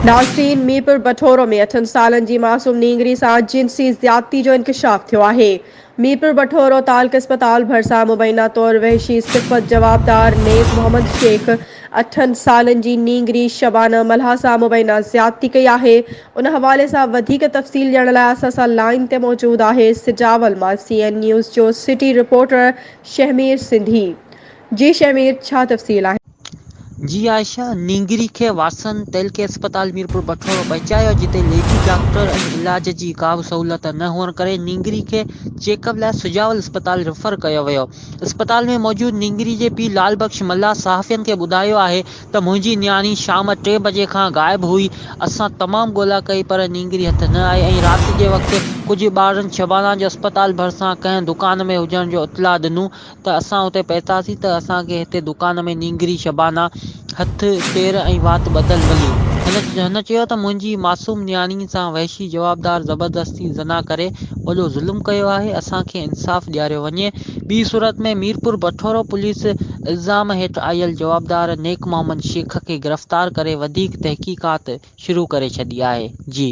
نازنين ميرپور بٺورو ۾ اٺن سالن جي معصوم نينگري سان جنسي زيادتي جو انڪشاف ٿيو آهي. ميرپور بٺورو تعلقي اسپتال ڀرسان مبينا طور وحشي صفت جوابدار نيب محمد شيخ اٺن سالن جي نينگري شبانه ملاح سان مبينا زيادتي ڪئي آهي ان حوالي سان وڌيڪ تفصيل ڏيڻ لاء اسان سان لائين تي موجود آهي سجاول مان سي اين نيوز جو سٽي رپورٽر شهمير سنڌي جي شهمير ڇا تفصيل آهن. جي عائشه نينگري کي واتسن تيلڪي اسپتال ميرپور بٺورو پهچايو جتي ليڊي ڊاڪٽر ۽ علاج جي ڪا به سهولت نه هئڻ ڪري نينگري کي چيڪ اپ لاء سجاول اسپتال ريفر ڪيو ويو اسپتال ۾ موجود نينگري جي پيء لال بخش ملاح صحافين کي ٻڌايو آهي ته منهنجي نياڻي شام ٽي بجي کان غائب هئي اسان تمام ڳولا ڪئي پر نينگري هٿ نه آئي ۽ رات جي وقت ڪجهه ٻارڙن شبانا جو اسپتال ڀرسان ڪنهن دڪان ۾ هجڻ جو اطلاع ڏنو ته اسان اتي پهتاسين ته اسان کي هتي دڪان ۾ نينگري شبانه، هٿ، پير ۽ وات ٻڌل ملي. هن چيو ته منهنجي معصوم نياڻي سان وحشي جوابدار زبردستي زنا ڪري وڏو ظلم ڪيو آهي، اسان کي انصاف ڏياريو وڃي. ٻي صورت ۾ ميرپور بٺورو پوليس الزام هيٺ آيل جوابدار نيڪ محمد شيخ کي گرفتار ڪري وڌيڪ تحقيقات شروع ڪري ڇڏي آهي. جي.